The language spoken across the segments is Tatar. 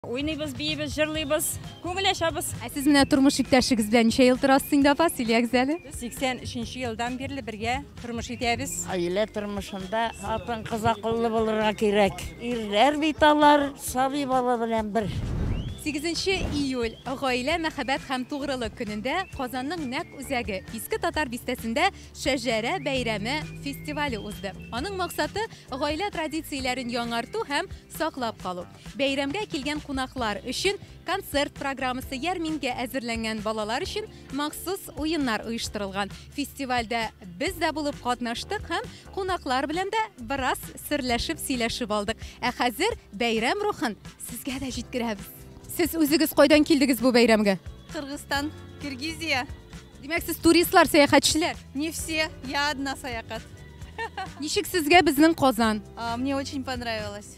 Уйныйбыз, биибез, җырлыйбыз, күңел ачабыз. Ә сез менә тормыш иптәшегез белән ничә ел торасыз инде, апа, сөйләгез әле? Без 83 елдан бирле бергә тормыш итәбез. Гаилә тормышында хатын-кыз акыллы булырга кирәк. Ирләр бит алар сабый бала белән бер. 8 июль, гаилә, мәхәббәт һәм тугрылык көнендә Казанның нәкъ үзәге, Иске Татар бистәсендә Шәҗәрә бәйрәме фестивале узды. Аның максаты, гаилә традицияләрен яңарту һәм саклап калу. Бәйрәмгә килгән кунаклар өчен концерт программасы, ярминкә әзерләнгән, балалар өчен махсус уеннар оештырылган. Фестивальдә без дә булып катнаштык һәм кунаклар белән дә бераз серләшеп, сөйләшеп алдык. Ә хәзер бәйрәм рухын сезгә дә җиткерәбез. Сез үзегез кайдан килдегез бу бәйрәмгә? Кыргызстан, Киргизия. Димәк, сез туристлар, сәяхәтчеләр. Не все, я одна саякат. Ничек сезгә безнең Казан? А, Мне очень понравилось.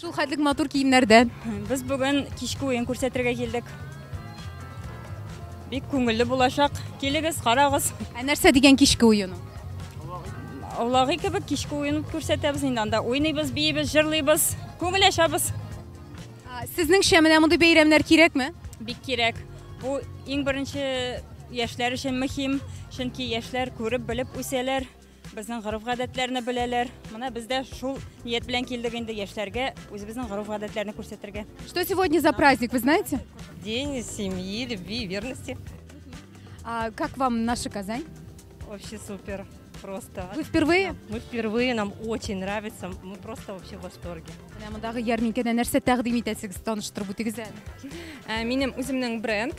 Шул хәтлек матур киемнәрдә. Без бүген кичке уен күрсәтергә килдек. Бик күңелле булачак. Килегез, карагыз. Ә нәрсә дигән кичке уен ул? Аулаги кебек кичке уен күрсәтәбез инде анда. Уйныйбыз, биебез, җырлыйбыз, күңел ачабыз. А, Сезнеңчә менә мондый бәйрәмнәр кирәкме? Бик кирәк. Бу иң беренче яшьләр өчен мөһим, чөнки яшьләр күреп, белеп үсәләр. Безнең гореф-гадәтләрне беләләр. Менә без дә шул ният белән килдек инде яшьләргә үзебезнең гореф-гадәтләрне күрсәтергә. Что сегодня за праздник, вы знаете? День семьи, любви и верности. А как вам наша Казань? Вообще супер. Просто. Вы впервые? Мы впервые, нам очень нравится. Мы просто вообще в восторге. Менә мондагы ярминкәдә нәрсә тәкъдим итәсегез, таныштырып үтегез әле. Ә, Минем үземнең бренд,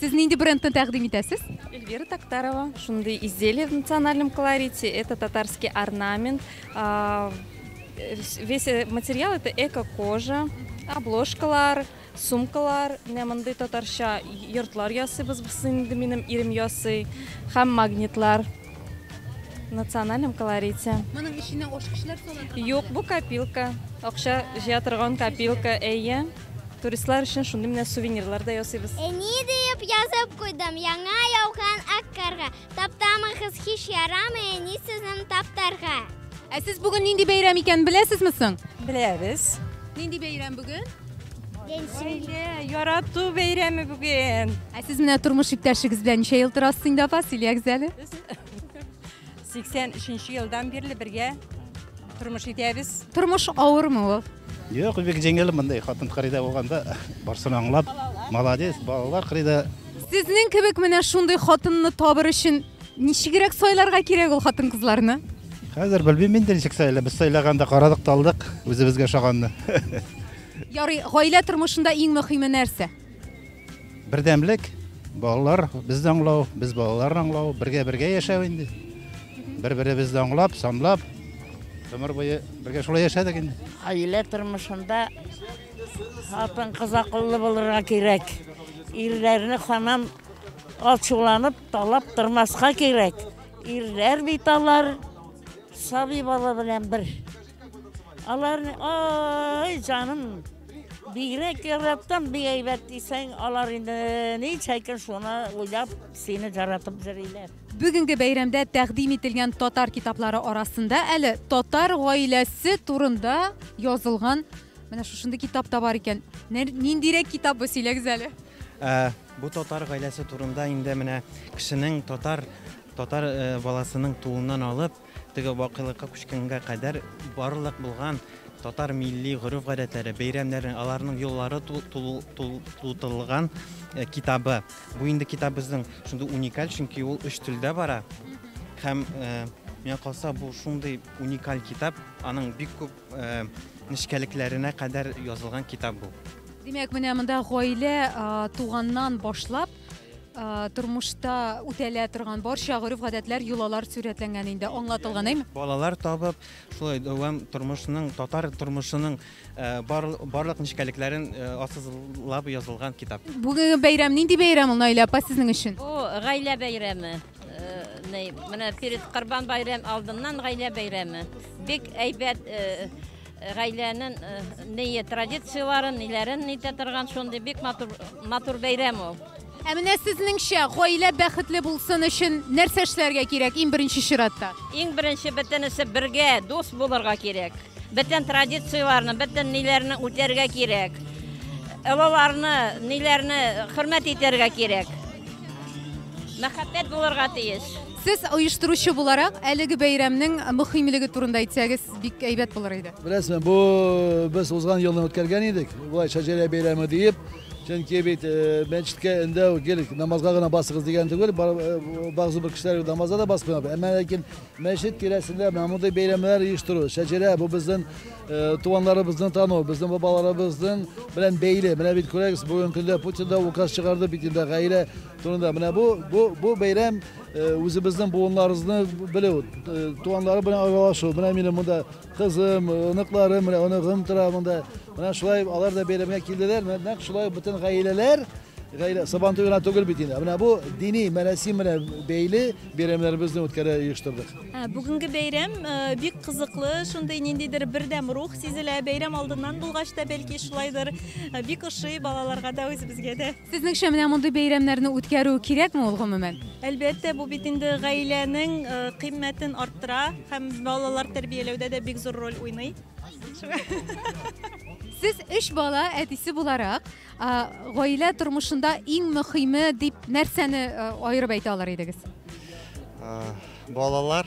Сез нинди брендны тәкъдим итәсез? Эльвира Тактарова, шундый изделие в национальном колорите. Это татарский орнамент. А, э, весь э, материал это эко-кожа, обложкалар, сумкалар, менә мондый татарча йортлар ясыйбыз, бусы инде минем ирем ясый, һәм магнитлар в национальном колорите. Моның эченә ош кешеләр сала Юк, бу копилка. Акча җыя торган копилка, әйе. Туристлар өчен шундый менә сувенирлар да ясыйбыз. Э, ни диеп язып куйдым, яңа яуган ак карга. Таптамыгыз һич ярамый, әни сезнең таптарга. Ә сез бүген нинди бәйрәм икәнен беләсезме соң? Беләбез. Нинди бәйрәм бүген? Гаилә, ярату бәйрәме бүген. Ә сез менә тормыш иптәшегез белән ничә ел торасыз инде апа, сөйләгез әле. 83 елдан бирле бергә тормыш итәбез. Тормыш авырмы ул? Юк, бик җиңел мондай хатын кырыйда булганда барсын аңлап. Молодец, балалар кырыйда. Сезнең кебек менә шундый хатынны табыр өчен ничегрәк сайларга кирәк ул хатын кызларны? Хәзер белмим инде ничек сайлап. Без сайлаганда карадык та алдык үзебезгә ошаганны. Ярый, гаилә тормышында иң мөһиме нәрсә? Бердәмлек, балалар безне аңлау, без балаларны аңлау, бергә-бергә яшәү инде. Бер-беребезне аңлап, санлап, гомер буе бергә шулай яшәдек инде. Гаилә тормышында хатын кыз акыллы булырга кирәк. Ирләрне хамам алчуланып талап тормаска кирәк. Ирләр бит алар сабый бала белән бер. Аларны, ай, җаным, бигрәк яраттым, бик әйбәт дисәң, алар инде ни чәйкен шуны уйлап, сине жаратып җырлыйлар. Бүгенге бәйрәмдә тәкъдим ителгән татар китаплары арасында әле татар гаиләсе турында язылган менә шушындый китап та бар икән. Ниндирәк китап бу сөйләгез әле? Ә, бу татар гаиләсе турында инде менә кешенең татар татар э, баласының тууыннан алып Теге вакыйлыкка күчкәнгә кадәр барлык булган татар милли гореф-гадәтләре, бәйрәмнәре, аларның юллары тултырылган э, китабы. Бу инде китап безнең шундый уникаль, чөнки ул өч телдә бара. Һәм э, миңа калса бу шундый уникаль китап, аның бик күп э, нечкәлекләренә кадәр язылган китап бу. Димәк, менә монда гаилә туганнан башлап тормышта үтәлә торган барча гореф гадәтләр йолалар сурәтләнгән инде аңлатылган әйме балалар табып шулай дәвам тормышының татар тормышының барлык нечкәлекләрен ассызлап язылган китап бүгенге бәйрәм нинди бәйрәм ул наилә апа сезнең өчен бу гаилә бәйрәме менә перед корбан бәйрәм алдыннан гаилә бәйрәме бик әйбәт Гаиләнең ние традицияләрен, ниләрен нитә торган шундый бик матур матур бәйрәм ул. Ә менә сезнеңчә гаилә бәхетле булсын өчен нәрсә эшләргә кирәк иң беренче чиратта? Иң беренче бөтенесе бергә, дус булырга кирәк. Бөтен традицияләрне, бөтен ниләрне үтәргә кирәк. Олыларны, ниләрне хөрмәт итәргә кирәк. Мәхәббәт булырга тиеш. Сез оештыручы буларак, әлеге бәйрәмнең мөхимлеге турында әйтсәгез, бик әйбәт булыр иде. Беләсезме, бу без узган елны үткәргән идек, болай шәҗәрә бәйрәме диеп. Чөнки бит э, мәчеткә эндәү гел намазга гына басыгыз дигән түгел, э, багзы бер кешеләр намазга да басмый. Әмма ләкин мәчет тирәсендә менә мондый бәйрәмнәр оештыру, шәҗәрә бу безнең э, туганнарыбызны тану, безнең бабаларыбызның белән бәйле. Менә бит күрәгез, бүген көндә Путин да указ чыгарды бит инде гаилә Турында менә бу бу бу бәйрәм үзебезнең буыннарыбызны белү, туганнары белән аралашу. Менә минем монда кызым, оныкларым, менә оныгым тора монда. Менә шулай алар да бәйрәмгә килделәр. Менә нәкъ шулай бөтен гаиләләр гаилә Сабан туе гына түгел бит инде. Менә бу дини мәрасим белән бәйле бәйрәмнәребезне үткәрә оештырдык. Бүгенге бәйрәм бик кызыклы, шундый ниндидер бердәм рух сизелә. Бәйрәм алдыннан булгач та, бәлки шулайдыр, бик ошый балаларга да, үзебезгә дә. Сезнеңчә, менә мондый бәйрәмнәрне үткәрү кирәкме ул гомумән? Әлбәттә, бу бит инде гаиләнең кыйммәтен арттыра һәм балалар тәрбияләүдә дә бик зур роль уйный. Сез өч бала әтисе буларак, гаилә тормышында иң мөхиме дип нәрсәне аерып әйтә алыр идегез? Балалар,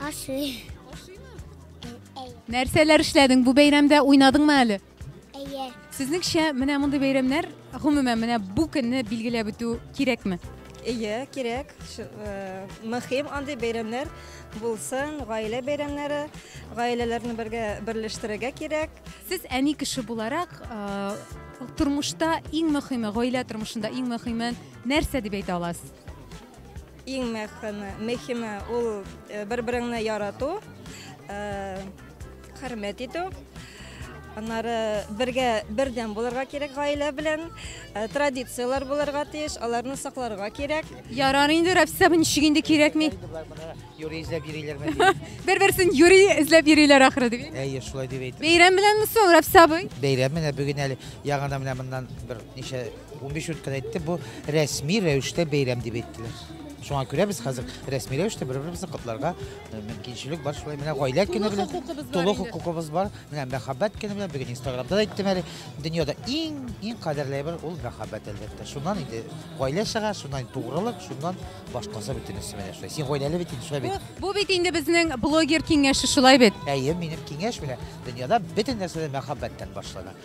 Ашый. Нәрсәләр эшләдең бу бәйрәмдә? Уйнадыңмы әле? Әйе. Сезнеңчә, менә мондый бәйрәмнәр, гомумән, менә бу көнне билгеләп үтү кирәкме? Әйе, кирәк. Ш- э, Мөһим андый бәйрәмнәр булсын, гаилә бәйрәмнәре, гаиләләрне бергә берләштерергә кирәк. Сез әни кеше буларак, э, тормышта иң мөһиме, гаилә тормышында иң мөһиме нәрсә дип әйтә аласыз? Иң мәхәме, мехиме ул э, бер-береңне ярату, э, хөрмәт итү. Аннары бергә бердәм булырга кирәк гаилә белән, э, традицияләр булырга тиеш, аларны сакларга кирәк. Ярар инде, Рәпсә, бу ничек инде кирәкми? Юрий эзләп йөриләрме? Бер-берсен юри эзләп йөриләр ахры дип. Әйе, шулай дип әйтеп. Бәйрәм беләнме соң, Рәпсә абый? Бәйрәм менә бүген әле яңадан менә моннан бер ничә 15 минуттан әйтте, бу рәсми рәвештә бәйрәм дип әйттеләр. Шуңа күрә без хәзер рәсми рәвештә бер-беребезне котларга э, мөмкинчелек бар. Шулай менә гаилә көне белән тулы хукукыбыз бар. Менә мәхәббәт көне белән бүген Инстаграмда да әйттем әле. Дөньяда иң иң кадерле бер ул мәхәббәт әлбәттә. Шуннан инде гаилә чыга, шуннан тугрылык, шуннан башкасы бөтенесе менә шулай. Син гаиләле бит инде шулай бит. Бу бит инде безнең блогер киңәше шулай бит. Әйе, минем киңәш белән дөньяда бөтен нәрсә мәхәббәттән башлана.